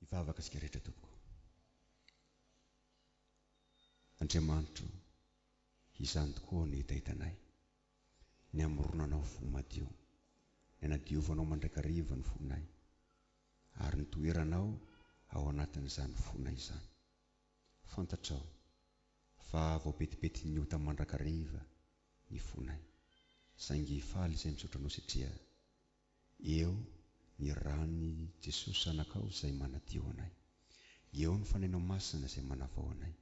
Hivavaka isika rehetra tompoko. Andriamanitro izany tokoa ny hitahitanay, ny hamoronanao fo madio, ny hanadiovanao mandrakariva ny fonay, ary ny toeranao ao anatin'izany fonay izany. Fantatrao fa voapetipetin'ny ota mandrakariva ny fonay, saingy faly izay misaotra anao satria Eo ny ran'i Jesosy Zanakao izay manadio anay. Eo ny Fanahinao Masina izay manavao anay.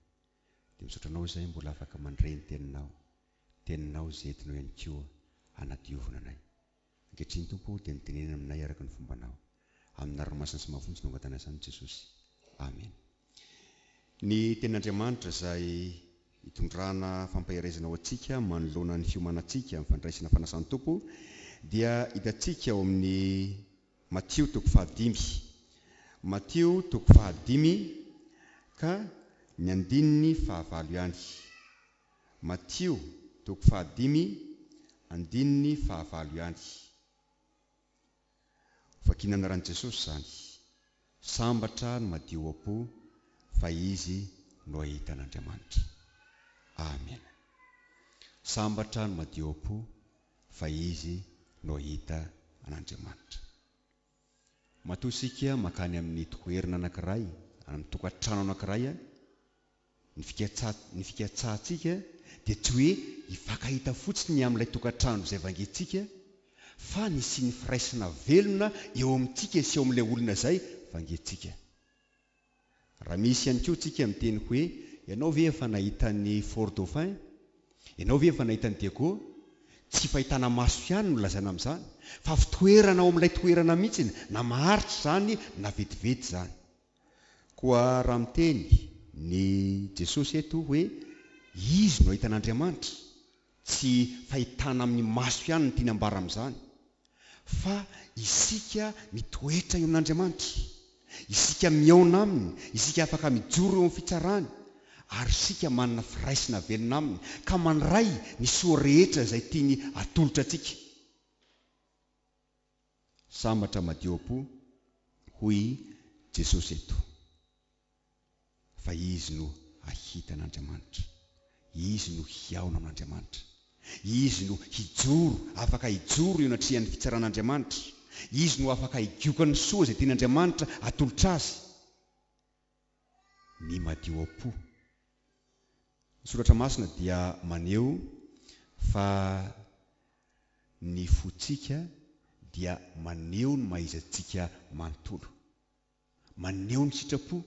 Dia misaotra Anao izay mbola afaka mandre ny Teninao, Teninao izay entinao ihany koa hanadiovina anay. Ankehitriny Tompo o, dia mitenena aminay araka ny fombanao. Amin'ny anarany masina sy mafonja no angatahina izany Jesosy. Amena. Ny Tenin'Andriamanitra izay itondrana fampaherezana ho antsika manoloana ny fiomanantsika amin'ny fandraisana fanasan'ny Tompo dia hitantsika ao amin'ny Matio toko fahadimy. Matio toko fahadimy ka ny andininy fahavalo ihany. Matio toko fahadimy andininy fahavalo ihany. Vakiana anaran'i Jesosy izany. Sambatra ny madio am-po fa izy no hahita an'Andriamanitra. Amena. Sambatra ny madio am-po fa izy no hahita an'Andriamanitra. Matoa isika mankany amin'ny toerana anankiray, any amin'ny tokantrano anankiray any, Ny fikatsa, ny fikatsahantsika dia tsy hoe hifankahita fotsiny amin'ilay tokantrano izay vangentsika, fa ny hisian'ny firaisana velona eo amintsika sy eo amin'ilay olona izay vangentsika. Raha misy ihany koa tsika miteny hoe, Ianao ve efa nahita an'i Fort Dauphin? Ianao ve efa nahita an'i Diego? Tsy fahitana maso ihany no lazaina amin'izany, fa fitoerana ao amin'ilay toerana mihitsy na maharitra izany na vetivety izany. Koa raha miteny ny Jesosy eto hoe Izy no hahita an'Andriamanitra, tsy fahitana amin'ny maso ihany no tiany ambara amin'izany, fa isika mitoetra eo amin'Andriamanitra, isika mihaona Aminy, isika afaka mijoro eo amin'ny fitsarany, ary isika manana firaisana velona Aminy ka mandray ny soa rehetra izay tiany atolotra antsika. Sambatra madio am-po hoy i Jesosy eto, fa izy no hahita an'Andriamanitra, izy no hihaona amin'Andriamanitra, izy no hijoro, afaka hijoro eo anatrehan'ny fitsaran'Andriamanitra, izy no afaka higiokany soa izay tian'Andriamanitra atolotra azy. ny madio am-po. Ny Soratra Masina dia maneho fa ny fontsika dia maneho ny maha-iza-tsika manontolo. Maneho ny sitrapo,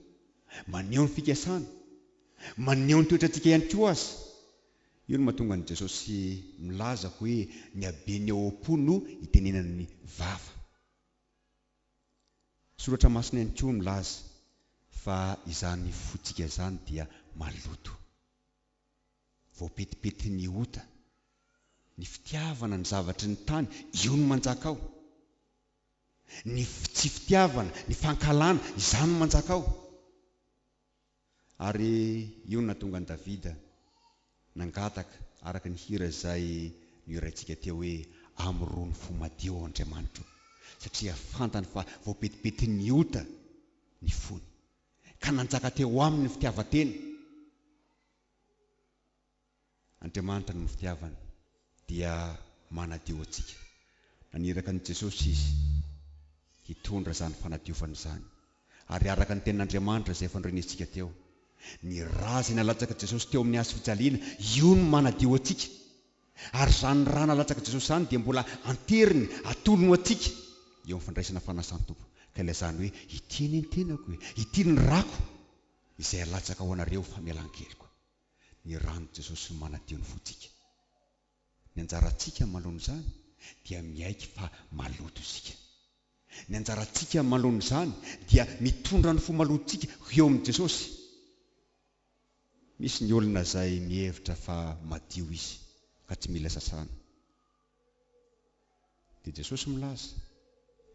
maneho ny fikasana, maneho ny toetrantsika ihany koa aza. Io no mahatonga an'i Jesosy milaza hoe ny haben'ny ao am-po no itenenan'ny vava. Soratra masina ihany koa milaza fa izany fotsika izany dia maloto. Voapetipetin'ny ota. Ny fitiavana ny zavatry ny tany, io no manjaka ao. Ny tsy fitiavana, ny fankahalana, izany no manjaka ao. Ary io no nahatonga an'i Davida nangataka, araka ny hira izay nohiraintsika teo hoe, Amorony fo madio, Andriamanitro, satria fantany fa voapetipetin'ny ota ny fony, ka nanjaka teo aminy ny fitiavan-tena. Andriamanitra noho ny fitiavany dia manadio antsika. Naniraka an'i Jesosy Izy hitondra izany fanadiovana izany. Ary araka ny tenin'Andriamanitra izay efa norenesintsika teo, ny ra izay nalatsaky Jesosy teo amin'ny hazofijaliana, io no manadio antsika. Ary izany ra nalatsaky Jesosy izany dia mbola anteriny, atolony ho antsika eo amin'ny fandraisana fanasan-Tompo. Ka ilay izany hoe, Ity anie ny tenako e! Ity ny rako izay alatsaka ho anareo famelan-keloka. ny ran'i Jesosy no manadio ny fontsika. Ny anjarantsika amaloan'izany dia miaiky fa maloto isika. Ny anjarantsika amaloan'izany dia mitondra ny fo malotontsika ho eo amin'i Jesosy. Misy ny olona izay mihevitra fa madio izy ka tsy mila sasana. Dia Jesosy milaza,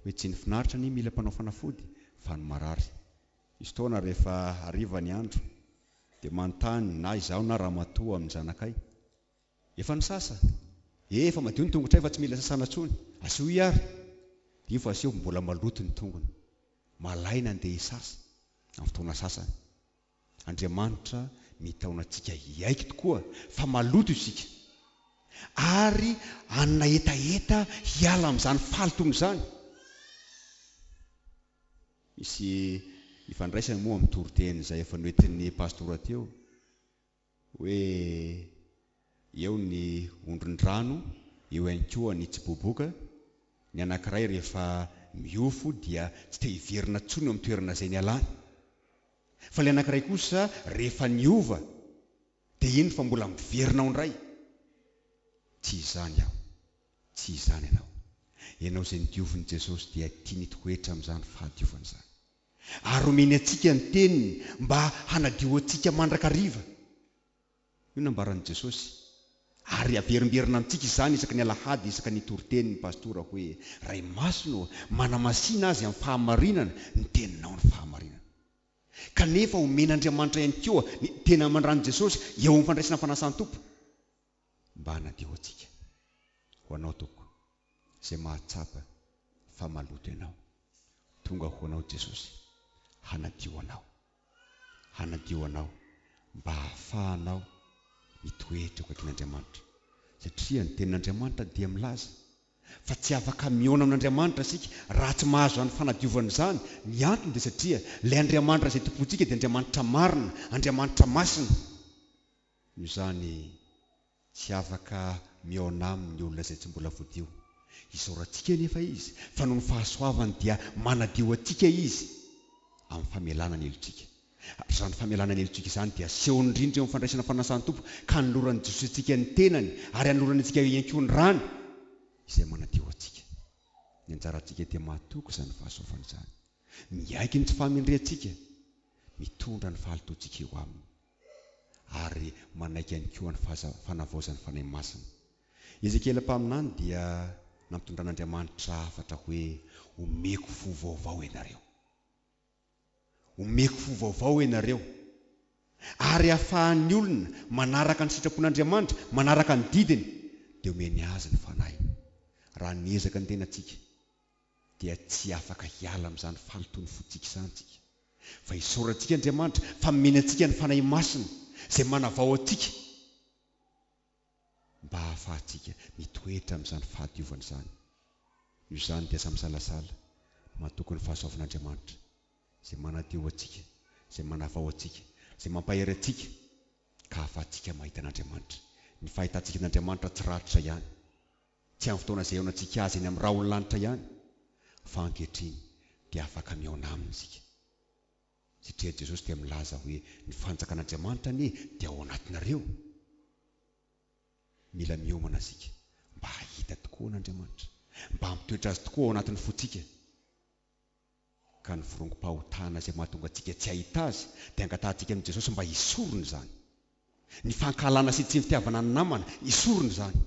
hoe tsy ny finaritra anie mila mpanao fanafody, fa ny marary. Misy fotoana rehefa hariva ny andro, dia manontany na izaho na ramatoa amin'ny zanakay, Efa nisasa? Ee, efa madio ny tongotray fa tsy mila sasana intsony. Asio i ary. Dia io vao asio, mbola maloto ny tongony. Malaina andeha hisasa, amin'ny fotoana sasany. Andriamanitra mitaona antsika hiaiky tokoa fa maloto isika, ary hanana hetaheta hiala amin'izany fahalotoana izany. Misy ifandraisany moa amin'ny toriteny izay efa noentin'ny pastora teo. Hoe eo ny ondron-drano, eo ihany koa ny tsiboboka. Ny anankiray rehefa miofo dia tsy te hiverina intsony eo amin'ny toerana izay nialany. Fa ilay anankiray kosa rehefa niova dia iny fa mbola miverina ao indray. Tsy izany aho, tsy izany ianao. Ianao izay nodiovin'i Jesosy dia tiany hitoetra amin'izany fahadiovana izany. ary omeny antsika ny Teniny mba hanadio antsika mandrakariva. Io no ambaran'i Jesosy. Ary averimberina amintsika izany isaky ny Alahady isaky ny Toritenin' ny Pastora hoe, Ray Masina ô, manamasina azy amin'ny fahamarinana ny Teninao ny fahamarinana. Kanefa omen'Andriamanitra ihany koa ny Teny amandran'i Jesosy eo amin'ny fandraisana fanasan-tompo. Mba hanadio antsika. Ho Anao tompoko. Izay mahatsapa fa maloto ianao. Tonga ho Anao Jesosy. Hanadio anao. Hanadio anao mba hahafahanao mitoetra eo akaikin'Andriamanitra. Satria ny tenin'Andriamanitra dia milaza fa tsy afaka mihaona amin'Andriamanitra isika raha tsy mahazo izany fanadiovana izany. Ny antony dia satria ilay Andriamanitra izay tompointsika dia Andriamanitra marina, Andriamanitra masina. Noho izany, tsy afaka mihaona aminy ny olona izay tsy mbola voadio. Isaorantsika anefa Izy, fa noho ny fahasoavany dia manadio antsika Izy amin'ny famelana ny helotsika. Ary izany famelana ny helotsika izany dia asehony indrindra eo amin'ny fandraisana ny fanasan'ny Tompo, ka anoloran'i Jesoa antsika ny tenany, ary anolorany antsika ihany koa ny rany, izay manadio antsika. Ny anjarantsika dia mahatoky izany fahasoavana izany. Miaiky ny tsy fahamendrehantsika, mitondra ny fahalotoantsika eo Aminy. ary manaiky ihany koa ny fanavaozan'ny Fanahy Masina. I Ezekiela mpaminany dia nampitondran'Andriamanitra hafatra hoe, Omeko fo vaovao ianareo. Omeko fo vaovao ianareo. Ary ahafahan'ny olona manaraka ny sitrapon'Andriamanitra, manaraka ny didiny, dia omeny azy ny Fanahiny. Raha niezaka ny tenantsika dia tsy afaka hiala amin'izany fahalotoan'ny fontsika izany isika, fa isaorantsika Andriamanitra fa nomeny antsika ny Fanahy Masina izay manavao antsika mba hahafahantsika mitoetra amin'izany fahadiovana izany. Noho izany dia aza misalasala, matoky ny fahasoavan'Andriamanitra izay manadio antsika, izay manavao antsika, izay mampahery antsika ka hahafahantsika mahita an'Andriamanitra, ny fahitantsika an'Andriamanitra tsy raritra ihany. tsy amin'ny fotoana izay ihaonantsika Azy eny amin'ny rahon'ny lanitra ihany, fa ankehitriny dia afaka mihaona Aminy isika, satria Jesosy dia milaza hoe, Ny fanjakan'Andriamanitra anie dia ao anatinareo. Mila miomana isika mba hahita tokoa an'Andriamanitra, mba hampitoetra Azy tokoa ao anatin'ny fontsika. ka ny virongom-pahotana izay mahatonga antsika tsy hahita Azy dia angatahantsika amin'i Jesosy mba hisorona izany. Ny fankahalana sy ny tsy fitiavana ny namana, hisorona izany.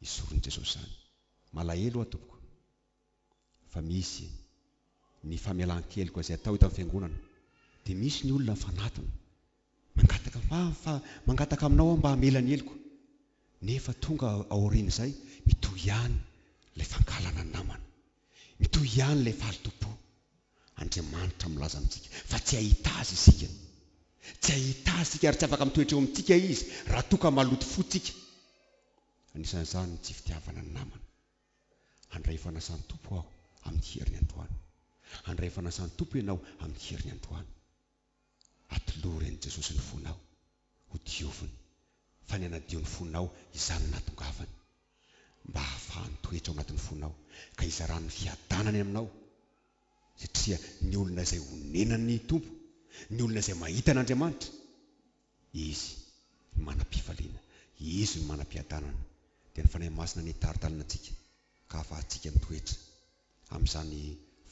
Hisoron'i Jesosy izany. Malahelo aho tompoko fa misy ny famelan-keloka izay atao eto amin'ny Fiangonana dia misy ny olona mifanatona, mangataka fa fa mangataka aminao aho mba hamela ny heloko nefa tonga aorian'izay mitohy ihany ilay fankahalana ny namana. Mitohy ihany ilay fahalotoam-po. Andriamanitra milaza amintsika fa tsy hahita Azy isika. Tsy hahita Azy isika ary tsy afaka mitoetra eo amintsika Izy raha toa ka maloto fo isika. Anisan'izany ny tsy fitiavana ny namana. Handray ny fanasan'ny Tompo aho amin'ny heriny androany. Handray ny fanasan'ny Tompo ianao amin'ny heriny androany. Atolory an'i Jesosy ny fonao ho dioviny, fa ny hanadio ny fonao izany no nahatongavany, mba hahafahany mitoetra ao anatin'ny fonao ka hizarany ny fiadanany aminao, satria ny olona izay onenan'ny Tompo, ny olona izay mahita an'Andriamanitra, Izy no manam-pifaliana. Izy no manam-piadanana. Dia ny Fanahy Masina no hitaritalina antsika ka hahafahantsika mitoetra amin'izany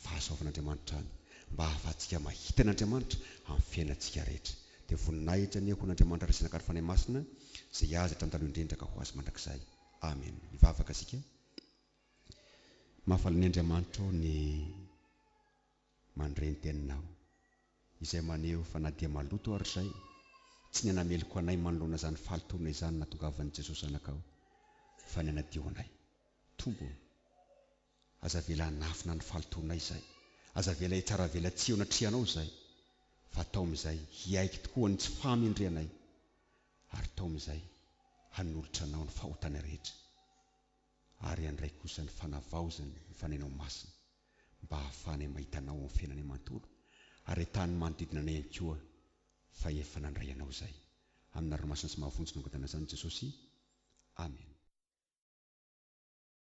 fahasoavan'Andriamanitra izany, mba hahafahantsika mahita an'Andriamanitra amin'ny fiainantsika rehetra. Dia voninahitra anie ho an'Andriamanitra Resy Naka ny Fanahy Masina, izay Azy hatramin'ny taloha indrindra ka ho Azy mandrakizay. Amena. Hivavaka isika. Mahafaly an'i Andriamanitra ô ny. Mandre ny teninao, izay maneho fa na dia maloto ary izay, tsy ny hanameloka anay manoloana izany fahalotoana izany no nahatongavan'i Jesoa Zanakao, fa ny hanadio anay. Tompo ô, aza avela hanafina ny fahalotoanay izay, aza avela hitsara avela tsy eo anatrehanao izay, fa atao amin'izay hiaiky tokoa ny tsy fahamendrehanay, ary tao amin'izay hanolotra Anao ny fahotana rehetra. ary handray kosa ny fanavaozany ny fanahinao masina, mba hahafahanay mahita anao amin'ny fiainanay manontolo, ary hahitàn'ny manodidina anay ihany koa fa efa nandray anao izahay. Amin'ny anarany masina sy mahavonjy nangatahana izany i Jesosy. Amena.